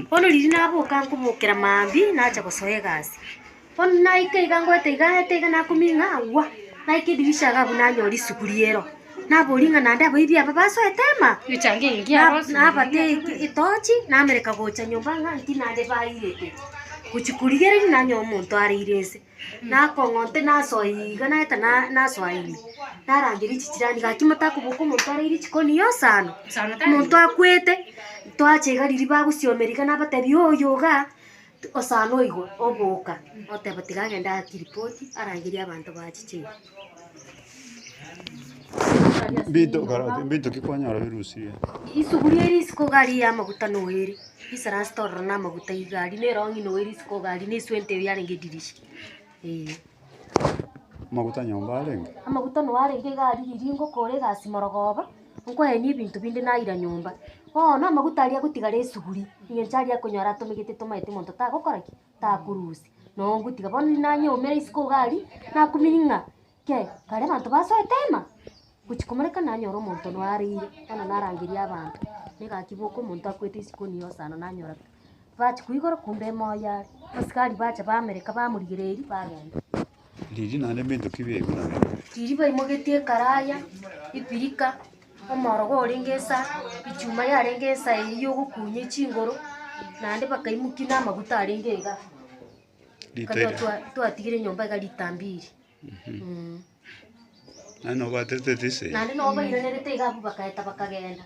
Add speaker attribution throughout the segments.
Speaker 1: Bono riria naboka nkobokera maambia nacha gosoa egasi. Bono naika iga ngoeta iga ngoeta iga nakoming'a agwo naika edirisha iga abwo nanyora risugu ri'ero. Naboria ng'a naende abaibia aba basoete ema?
Speaker 2: Nabata
Speaker 1: etochi namereka gocha nyomba ng'a inki naende bairete. Gochia korigereria nanyora omonto areire nse. nakong'onte nasoe iga naeta na nasoa ime, narangeria chijirani gaki motakoboka omonto areire jikoni yosana, omonto akwete, twacha iga riria bagosiomera iga nabatebia oyo igaa, osana oigo, oboka, oteba tiga agende aake ripoti arangerie abanto bachiche iga.
Speaker 3: Isuguria ere
Speaker 1: isiko iga aria y'amaguta noyo ere, esalasita ororo namaguta iga aria, na erong'i noyo ere isiko iga aria, na eswenta eyo yarenge edirisha, eeh.
Speaker 3: Amaguta noyo arenge
Speaker 1: iga aria riria ngokora egasi morogooba, nkoenia ebinto binde naira nyomba, bono amaguta aria agotigara esuguria, engencho aria akonyora atomegete tomaete monto tagokora ki? takurusia nogutiga bono riria nanyeumera isiko iga aria nakumini ng'a kei kare abanto basoete ema gochi komoreka nanyora omonto ono areire bono narangeria abanto na egaki boka omonto akwete isiko nigo osana nanyora ki? Bachi koigora kumbe emo oye are. Abasikari bacha bamereka bamorigereria bagenda. Ndiri naende
Speaker 3: ebinto ki biaigurana? Ndiri baimogetie
Speaker 1: ekaraya, ebirika, omorogo orenge ensa, echuma yarenge ensa eyio yogokunyia echingoro, naende bakaimokia na amaguta arenge iga. Rita Ekero eri. twa- twatigire nyomba iga rita mbiri. Mm.
Speaker 3: Nani nobaterete tise? Naende nabo bairanerete
Speaker 1: iga abwo bagaeta bakagenda.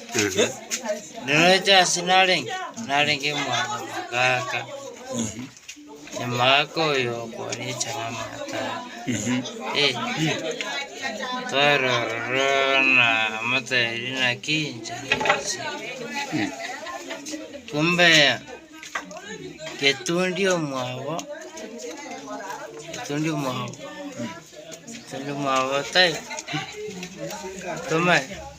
Speaker 4: Noroche ase narenge, narenge omwana omogaka, nyuma ake oyo okwanyecha namanyete aa. Eh, twaroro na amatari naki inche nasi. Kumbe getundi omwabo, getundi omwabo, getundi omwabo tai, tomanye.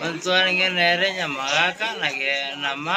Speaker 4: Ontwarenge nere nyamagaaka na
Speaker 5: getuuni.